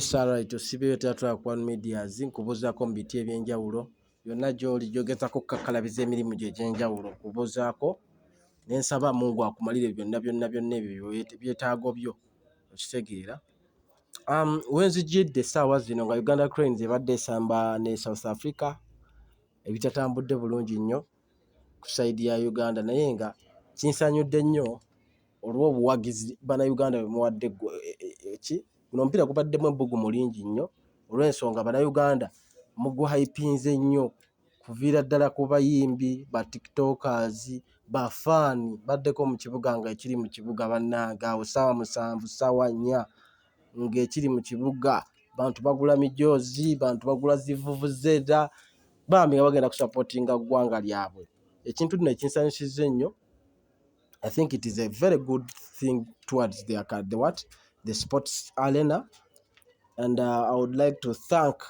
Sara tusibeyo teatula ku One Medias nkubuzaako mu biti eby'enjawulo byonna gy'oli gy'ogezaako okukakkalabiza emirimu gyo egy'enjawulo nkubuzaako ne nsaba Mungu akumalire byonna byonna byonna ebyo byetaago byo okitegeera um, we nzijjidde essaawa zino nga Uganda Cranes ebadde esamba ne South Africa ebitatambudde bulungi nnyo ku sayidi ya Uganda naye nga kinsanyudde nnyo olw'obuwagizi bana Uganda bwe muwadde e, e, e, ki Guno omupiira gubaddemu ebbugumu lingi nnyo olw'ensonga Bannayuganda muguhayipinze nnyo kuviira ddala ku bayimbi, ba tiktokers, ba fan baddeko mu kibuga ng'ekiri mu kibuga bannange awo ssaawa musanvu ssaawa nnya ng'ekiri mu kibuga bantu bagula mijoozi, bantu bagula zivvuvuzera bambi nga bagenda kusapootinga ggwanga lyabwe ekintu nno ekinsanyusizza ennyo I think it is a very good thing towards the, the what the sports arena and uh, I would like to thank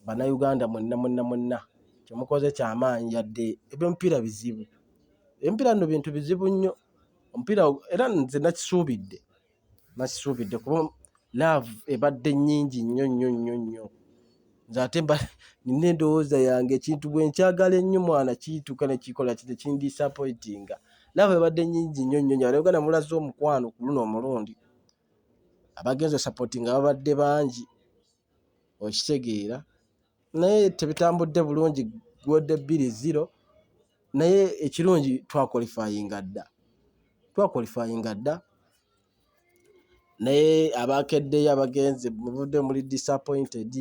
bannayuganda mwenna mwenna mwenna kyemukoze kyamaanyi yadde ebyomupiira bizibu ebipiira no bintu bizibu nnyo omupiira era nze nakisuubidde nasisuubidde kuba laavu ebadde nnyingi nnyo nnyo nnyo nnyo nze ate mba nina endowooza yange ekintu bwe nkyagala ennyo mwana kiyituuka ne kikola kite kindisapoitinga laavu ebadde nnyingi nnyo nnyo nyo alayoganda mulaze omukwano ku luno omulundi abagenza osapoti nga babadde bangi okitegeera naye tebitambudde bulungi gwodde bbiri zero naye ekirungi twakolifayinga dda twakolifayinga dda naye abakeddeyo abagenze muvudde muli disappointed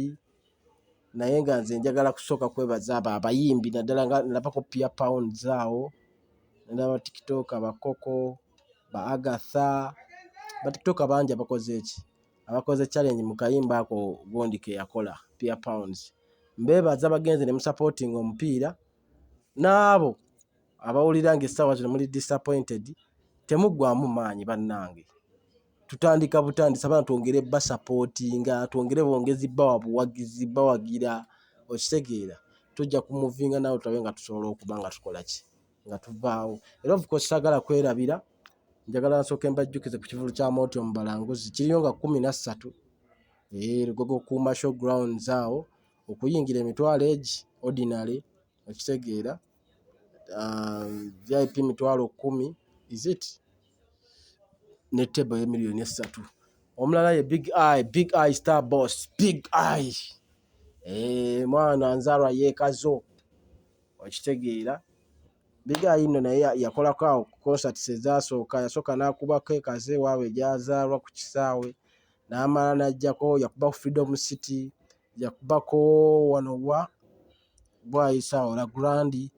naye nga nze njagala kusooka kwebaza abo abayimbi naddala nga nabako pia pounds awo naba tiktok abakoko ba agatha batiktok bangi abakoze eki abakoze challenge mu kayimba ako gundi ke yakola pia pounds mbeebaza bagenze ne musapootinga omupiira n'abo abawulira ng'essaawa zino muli disappointed temuggwamu maanyi bannange tutandika butandisa bana twongere basapootinga twongere bongezi bawa buwagizi bawagira okitegeera tujja kumuvinga nawe tulabe nga tusobola okuba nga tukola ki nga tuvaawo era of course sagala kwerabira njagala nsooke mbajjukize ku kivulu kya mooti omubalanguzi kiriyo nga kumi na ssatu lugogo ku masho grounds awo okuyingira emitwalo egi ordinary okitegeera um, vip mitwalo kumi is it ne tebo ye miliyoni essatu omulala ye big eye big eye star boss big eye Eh, mwana nzalwa yekazo okitegeera biga yino naye yakolako awo ku concerts ezasooka yasooka n'akubako ekaze ewaabwe gyazaalwa ku kisaawe n'amala n'ajjako yakuba ku freedom city yakubako wano wa bwayisa ola grandi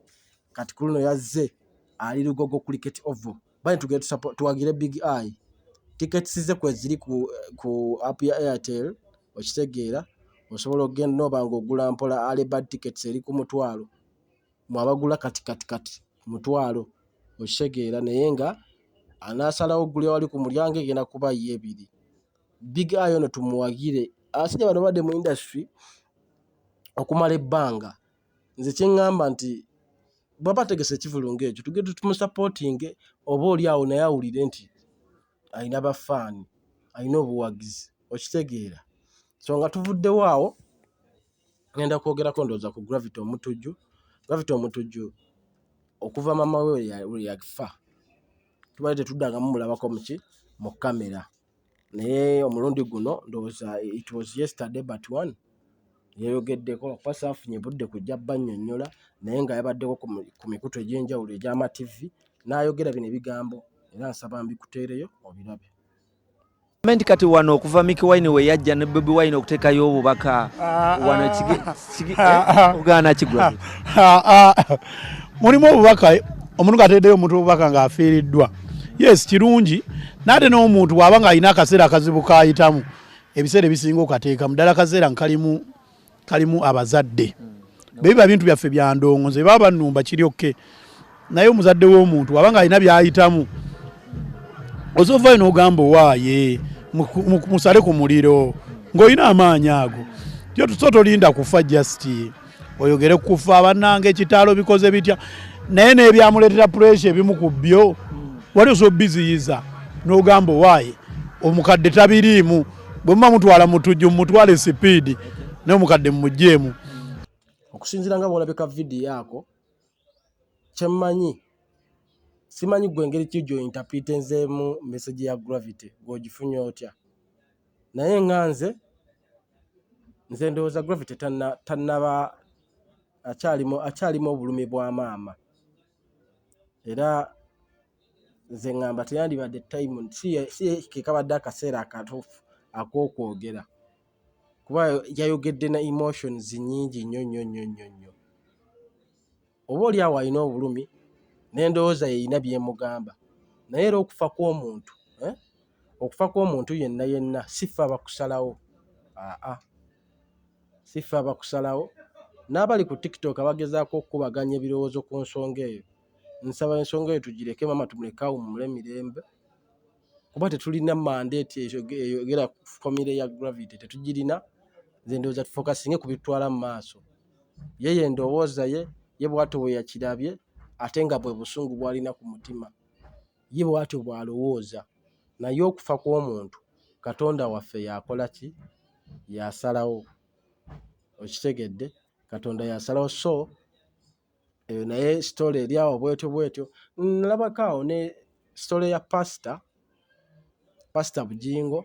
kati kuluno yazze ali lugogo cricket oval bali tugere tuwagire big eye tickets ze kweziri ku ku app ya airtel okitegeera osobola okugenda nooba nga ogula mpola alibad tickets eri ku mutwalo mu abagula kati kati kati mutwalo okitegeera naye nga anasalawo ogulya wali ku mulyango egenda kuba ye ebiri big eye ono tumuwagire asije bano badde mu industry okumala ebbanga nze kyeŋŋamba nti bwaba ategese ekivulu ng'ekyo tugende tumusapootinge oba oli awo naye awulire nti alina bafaani alina obuwagizi okitegeera so nga tuvuddewo awo ngenda kwogerako ndowooza ku gravity omutujju gravity omutujju okuva mama we lwe yafa tubadde tetuddangamu mulabako muki mu kamera naye omulundi guno ndowooza it was yesterday but one yayogeddeko kuba saafunye budde kujja bannyonnyola naye nga yabaddeko ku mikutu egy'enjawulo egy'amativi n'ayogera bino ebigambo era nsaba mbikuteereyo obirabe nti kati wano okuva Mickey Wine we yajja ne Bobi Wine okuteekayo obubaka ah, wano ah. ogaana kigwa mulimu obubaka omuntu ngateedeyo omuntu obubaka ng'afiiriddwa yes kirungi naate n'omuntu bwaba ng'alina akaseera akazibu kayitamu ebiseera ebisinga okateekamu ddala akaseera nkalimu kalimu abazadde bebiba bintu byaffe byandongo nze baba banumba kiryokke naye omuzadde w'omuntu waba nga alina byayitamu ozovayo n'ogamba owaaye musale ku muliro ng'olina amaanyi ago tyo tuso tolinda kufa just oyogere kukufa bannanga ekitaalo bikoze bitya naye n'ebyamuleetera puresha ebimu ku byo wali oso biziyiza n'ogamba owaaye omukadde tabiriimu bwe muba mutwala mutujju mumutwale sipiidi naye omukadde mumugjeemu okusinzira nga bwolabika vidiyo ako kyemmanyi simanyi gwe engeri ki gyo interpretinzemu message ya gravity gwe ogifunye otya naye nga nze nze ndowooza gravity tannaba akyalimu obulumi bwa maama era nze ngamba teyandibadde time si kekabadde akaseera akatuufu ak'okwogera. kuba yayogedde na emotions nnyingi nnyo nnyo nnyo nnyo nnyo. Oba oli awo alina obulumi n'endowooza ye erina by'emugamba naye era okufa kw'omuntu eh, okufa kw'omuntu yenna yenna si ffe abakusalawo aa, si ffe abakusalawo. N'abali ku TikTok abagezaako okukubaganya ebirowoozo ku nsonga eyo, nsaba ensonga eyo tugireke maama tumuleke awummule mirembe. kuba tetulina mandate eyogera ku famire ya gravity tetugirina nze ndowooza tufokasinge ku bitutwala mu maaso yeye endowooza ye ye bwatyo bwe yakirabye ate nga bwe busungu bwalina ku mutima ye bwatyo bw'alowooza naye okufa kw'omuntu katonda waffe yakola ki yasalawo okitegedde katonda yasalawo so eyo naye story eri awo bwetyo bwetyo. Nalabako awo ne story ya pasita pasita Bujingo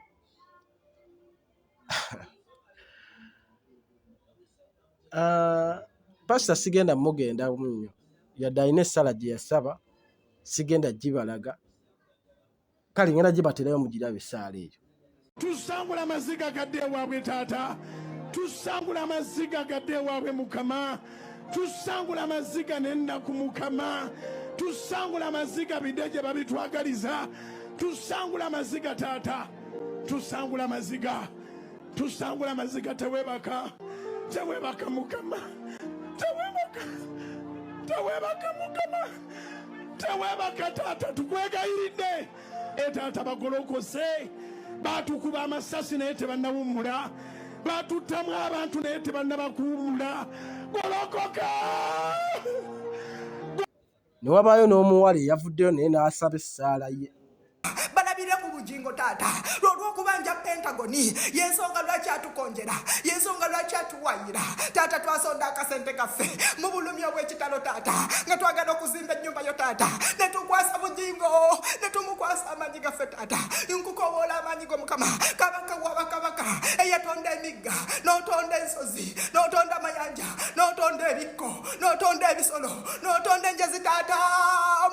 ah, pasita sigenda mugenda nnyo yadde alina essala gye yasaba sigenda gibalaga. kale ngenda gibaterayo mugirabe esaala eyo tusangula amaziga gadde ewaabwe taata tusangula amaziga gadde ewaabwe mukama tusangula amaziga nennaku mukama tusangula amaziga bide gye babitwagaliza tusangula amaziga taata tusangula amaziga tusangula amaziga tewebaka tewebaka mukama tewebaka tewebaka mukama tewebaka taata tukwegayiridde etaata bagolokose batukuba amasasi naye tebannawummula batuttamu abantu naye tebannabakuwummula golokoka Ne wabaayo n'omuwala eyavuddeyo naye n'asaba essaala ye. balabire ku bugingo taata lwolwokubanja pentagoni yensonga lwaki atukonjera yensonga lwaki atuwayira taata twasonda akasente kaffe mu bulumi obwekitalo taata nga twagala okuzimba ennyumba yo taata netukwasa bugingo netumukwasa amaanyi gaffe taata nkukowoola amaanyi go mukama kabaka wabakabaka eyatonda emigga notonda ensozi notonda amayanja notonda ebikko notonda ebisolo notonda enjazi taata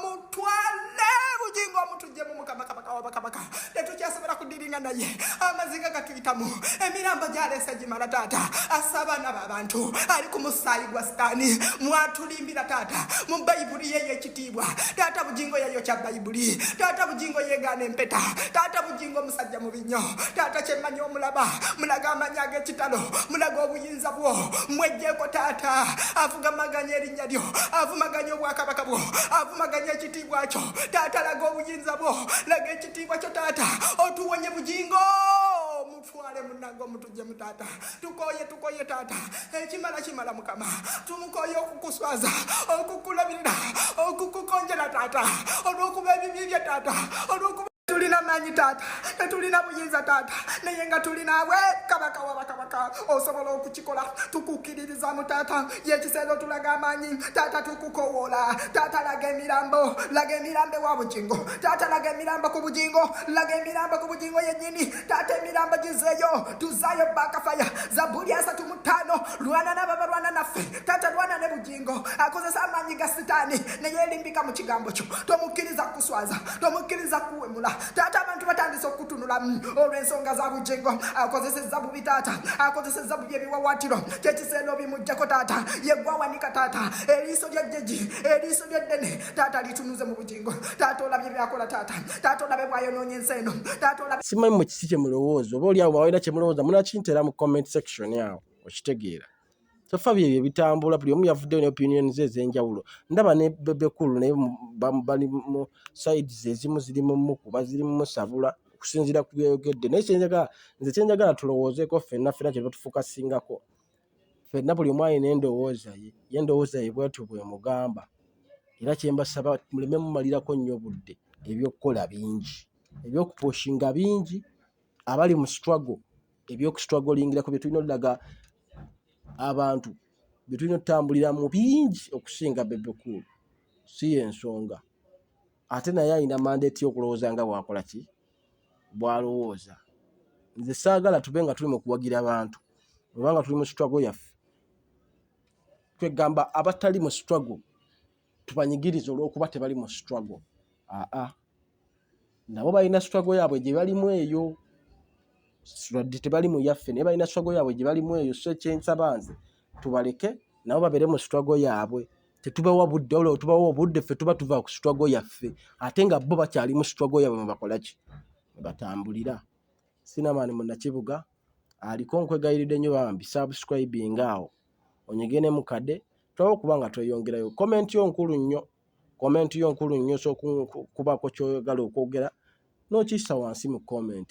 mutwale bujingo omutujje mu mukama kabaka wabakabaka tetukyasobola kudiringa naye amaziga gatuyitamu emiramba gyaleesa gimala taata assa abaana babantu ali ku musaayi gwa sitaani mwatulimbira taata mu bayibuli yeyo ekitiibwa taata bujingo yeyo kya bayibuli taata bujingo yegaana empeta taata bujingo omusajja mubi nnyo taata kyemmanyi omulaba mulaga amanyi ag'ekitalo mulaga obuyinza bwo mwejjeeko taata avugamaganya erinnya lyo avumaganya obwakabaka bwo avumaganya ekitiibwa kyo taata laga obuyinza bwo laga ekitiibwa kyo taata otuwonye bugingo mutwale munange omutu jemu taata tukoye tukoye taata ekimala kimala mukama tumukoye okukuswaza okukulabirira okukukonjera taata olwokuba ebibi bye taata olwokuba tulina manyi taata tetulina buyinza taata naye nga tulinawe kabaka wabakabaka osobola okukikola tukukiririzamu taata yekiseera otulaga amanyi taata tukukowola taata laga emirambo laga emirambo ewa bujingo taata laga emirambo ku bujingo laga emirambo ku bujingo yenyini taata emirambo gizeeyo tuzaayo bakafaya zabuli asatu mu ttaano lwana nabo abalwana naffe taata lwana ne bugingo akozesa amaanyi ga sitaani naye elimbika mu kigambo kyo tomukkiriza kukuswaza tomukkiriza kukuwemula taata abantu batandise okukutunulamu mm, olw'ensonga za bugingo akozesezza bubi taata akozesezza bubi ebiwawaatiro kyekiseera obimujjako taata yegwawanika taata eriiso lya jjeji eriiso lya ddene taata litunuze mu bugingo taata olabye byakola taata taata olabe bwayonoonye ensi eno taata olabe simanyi mu kiki kye mulowooza oba oli awo bawalina kye mulowooza munakintera mu comment section awo okitegeera tofa bye bye bitambula buli omu yavuddeyo ne opinion ze ez'enjawulo ndaba ne bebekulu naye bali mu sides ezimu ziri mu mukuba ziri mu musabula okusinziira ku byeyogedde naye kyenjagala nze kyenjagala tulowoozeeko ffenna ffena kye batufuka singako ffenna buli omu alina endowooza ye ye endowooza ye bwetyo bwemugamba era kyembasaba muleme mumalirako nnyo budde ebyokukola bingi ebyokuposhinga bingi abali mu struggle ebyokustrugglingirako byetulina olaga abantu byetulina otutambulira mu bingi okusinga bebekuulu si yensonga ate naye alina mandate yokulowooza nga bwakola ki bwalowooza. Nze saagala tube nga tuli mu kuwagira bantu obanga tuli mu struggle yaffe kwegamba abatali mu struggle tubanyigiriza olwokuba tebali mu struggle aa nabo balina struggle yaabwe gye balimu eyo wadde tebali mu yaffe naye balina struggle yaabwe gye balimu eyo so ekyensaba nze tubaleke nabo babeere mu struggle yaabwe tetubawa budde wabula wetubawa obudde ffe tuba tuva ku struggle yaffe ate nga bo bakyali mu struggle yabwe mubakolaki batambulira sinamaani munakibuga aliko nkwegayiridde nnyo bambi subscribing awo onyige ne mukade tulabe okuba nga tweyongerayo comment yo nkulu nnyo comment yo nkulu nnyo sokubaako kyoyagala okwogera nokiyisa wansi mu comment